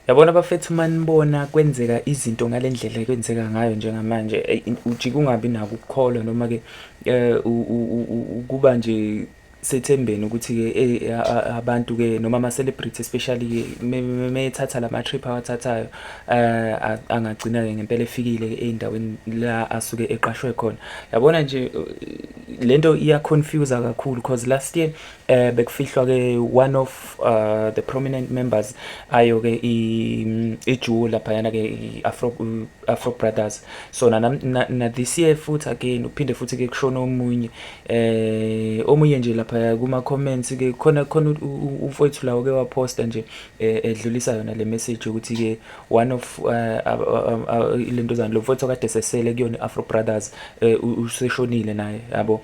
Yabona bafethu uma nibona kwenzeka izinto ngale ndlela ekwenzeka ngayo njengamanje ujike ungabi nako ukukholwa noma-ke um ukuba nje sethembeni ukuthi-ke eyi abantu-ke noma ama-celebrity especially-ke methatha la ma-trip awathathayo um angagcina-ke ngempela efikile ey'ndaweni la asuke eqashwe khona. Yabona nje le nto iya-confuse-a kakhulu cause last year eh bekufihlwa ke one of uh, the prominent members ayo ke ijuwo lapha yana ke afro afro brothers so na, na, na this year futhi again uphinde futhi ke kushona omunye eh omunye nje lapha kuma comments ke khona khona umfowethu lawo ke waposta nje eh, edlulisa yona le message ukuthi ke one of uh, uh, lento zani lo mfowethu kade sesele kuyona afro brothers eh, useshonile naye yabo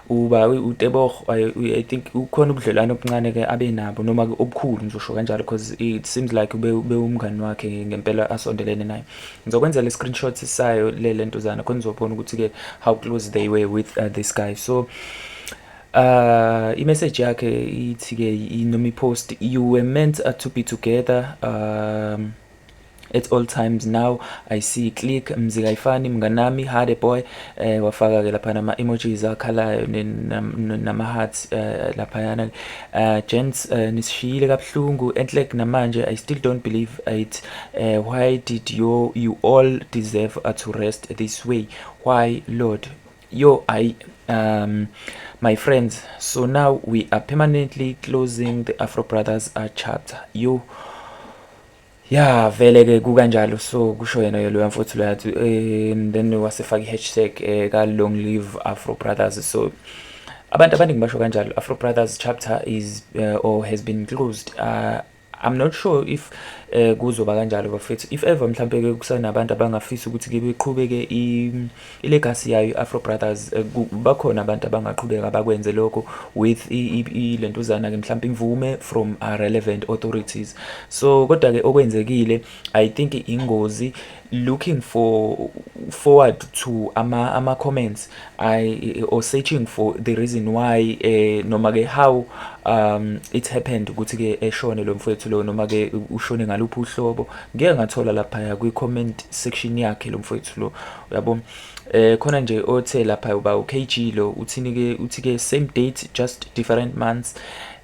uba uTebogo I think ukhona ubudlelwane obuncane ke abe nabo noma obukhulu ngizosho kanjalo because it seems like ube ube umngani wakhe ngempela asondelene naye ngizokwenzela i-screenshot sayo le lentuzana khona uzobona ukuthi ke how close they were with uh, this guy so uh imessage yakhe ithi ke noma ipost you were meant uh, to be together um at all times now i see click mzika ifani mnganami hade boy eh wafaka ke lapha nama emojis akhalayo nama hearts eh, lapha yana eh, gents eh, nisishiyile kabhlungu enhle namanje i still don't believe it why did you you all deserve to rest this way why lord yo i um my friends so now we are permanently closing the afro brothers uh, chapter you ya vele ke kukanjalo so kusho yena ke loya mfowethu loya athi um then wasefaka i-hashtag um eh, ka-long live afro brothers so abantu abaningi basho kanjalo afro brothers chapter is uh, or has been closed uh, i'm not sure if um uh, kuzoba kanjalo bafethu if ever mhlawumpe-ke kusenabantu abangafisa ukuthi-ke beqhubeke ilegacy yayo i-afro brothers eh, bakhona abantu abangaqhubeka bakwenze lokho with ilentuzana-ke mhlawumpe imvume from uh, relevant authorities so kodwa-ke okwenzekile i think ingozi looking for forward to ama ama comments i or searching for the reason why eh noma ke how um it happened ukuthi ke eshone lo mfowethu lo noma ke ushone ngaluphi uhlobo ngeke ngathola laphaya kwi-comment section yakhe lo mfowethu lo uyabo eh khona nje othe lapha uba uKG lo uthini ke uthi ke same date just different months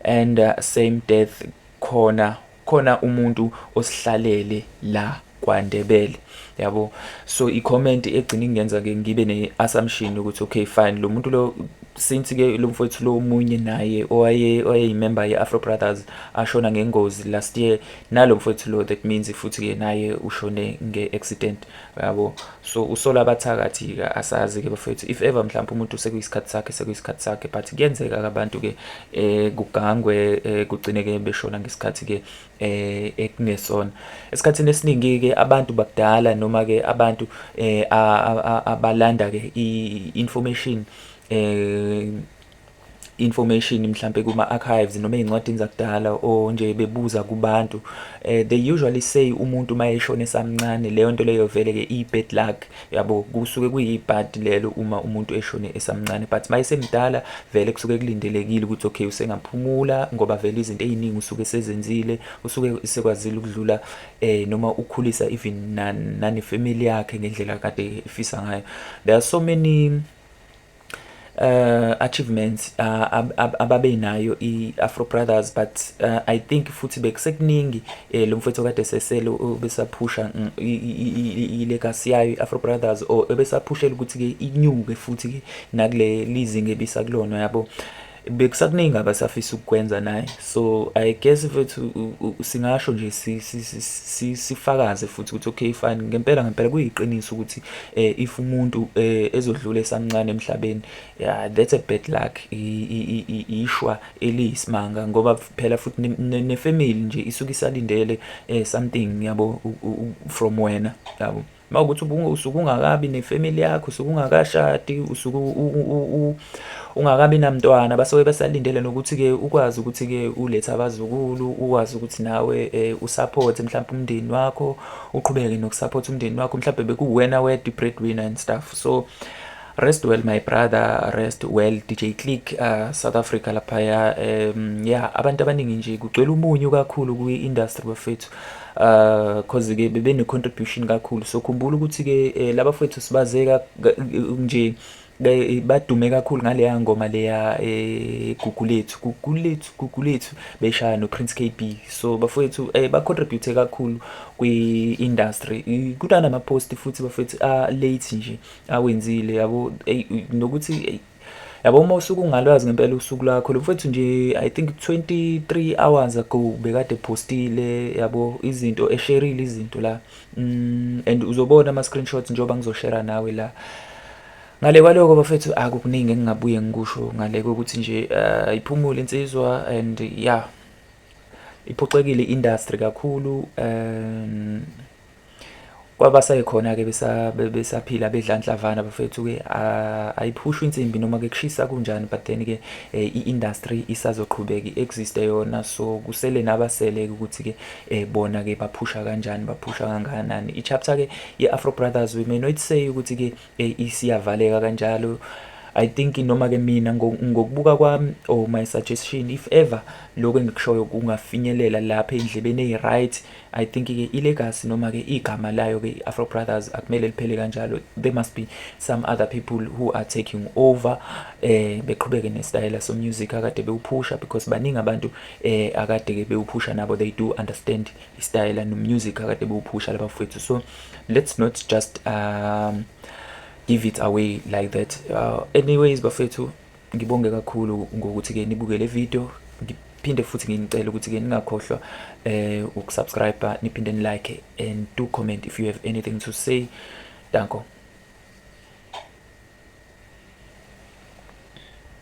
and uh, same death khona khona umuntu osihlalele la kwaNdebele yabo so i-comment egcina ingenza ke ngibe ne-assumption ukuthi okay fine lo muntu lo since ke lo mfowethu lo munye naye owaye oyeyimember ye-afro brothers ashona ngengozi last year nalo mfowethu lo that means futhi-ke naye ushone nge-accident yabo so usola abathakathi-ke asazi-ke bafowethu if ever mhlawumpe umuntu sekuyisikhathi sakhe sekuyisikhathi sakhe but kuyenzeka-ke abantu-ke um kugangwe um kugcine-ke beshona ngesikhathi-ke um ekungesona esikhathini esiningi-ke abantu bakudala noma-ke abantu um abalanda-ke i-information um information mhlambe kuma archives noma ezincwadini zakudala o nje bebuza kubantu uh, they usually say umuntu mayeshona esamncane leyo nto leyo vele ke i bad luck yabo kusuke kuyibad lelo uma umuntu eshone esamncane but mayesemdala vele kusuke kulindelekile ukuthi okay usengaphumula ngoba vele izinto eziningi usuke sezenzile usuke sekwazile ukudlula eh noma ukhulisa even nani family yakhe ngendlela kade ifisa ngayo there are so many uh, achievements uh, ab, ab, ababenayo i-afro brothers but uh, i think futhi bekusekuningi eh, lo mfowethu kade sesele ubesaphusha mm, ilekasi yayo i-afro brothers or ebesaphushela ukuthi-ke inyuke futhi-ke nakule lizinga ebisakulona yabo bekusakuningi abasafisa ukukwenza naye so i guess mfethu singasho nje sifakaze futhi ukuthi okay fine ngempela ngempela kuyiqiniso ukuthi eh, if umuntu um ezodlula esamncane emhlabeni yeah, that's a bad luck ishwa eliyisimanga ngoba phela futhi nefamily nje isuke isalindele um something yabo from wena yabo mawukuthi usuke ungakabi nefamily yakho usuke ungakashadi usuke ungakabi namntwana basuke besalindele nokuthi-ke ukwazi ukuthi-ke ulethe abazukulu ukwazi ukuthi nawe um usaphothe mhlawumpe umndeni wakho uqhubeke nokusaphotha umndeni wakho mhlawumbe bekuwuwena wedwa i-breadwinner and stuff so Rest well my brother, rest well DJ Click uh, South Africa laphaya um, yeah abantu abaningi nje kugcwele umunyu kakhulu kwi industry bafethu uh cause ke bebe ne contribution kakhulu so khumbula ukuthi ke eh, laba fethu sibazeka nje badume kakhulu ngaleya ngoma leya eh, gugulethu gugulethu gugulethu beshaya no Prince KB so bafowethu eh, ba contribute kakhulu kwi industry kudana ama post futhi bafowethu a late nje awenzile yabo nokuthi yabo uma usuke ungalwazi ngempela usuku lakho lo mfethu nje i think 23 hours ago bekade postile yabo izinto esherile izinto la mm, and uzobona ama screenshots njengoba ngizoshare nawe la ngale kwaloko bafethu akukuningi engingabuye ngikusho ngale kokuthi nje uh, iphumule insizwa and yeah iphoxekile industry kakhulu um, kwabasekhona-ke besaphila bedlanhlavana bafethu-ke ayiphushwa insimbi noma-ke kushisa kunjani but then-ke um i-industry isazoqhubeka i-existe yona so kusele nabasele-ke ukuthi-ke um bona-ke baphusha kanjani baphusha kangakanani i-chapter-ke ye-afro brothers we may not say ukuthi-ke um isiyavaleka kanjalo I think noma ke mina ngokubuka kwami or my suggestion if ever lokho engikushoyo kungafinyelela lapha endlebeni eyi right I think ke ilegacy noma ke igama layo ke iAfro Brothers akumele liphele kanjalo there must be some other people who are taking over eh beqhubeke nesitayela so music akade bewuphusha because baningi abantu eh akade ke bewuphusha nabo they do understand istayela no music akade bewuphusha labafethu so let's not just um give it away like that uh, anyways bafethu Ngibonge kakhulu ngokuthi ke nibuke le video ngiphinde futhi nginicela ukuthi ke ningakhohlwa eh ukusubscribe niphinde ni like and do comment if you have anything to say danko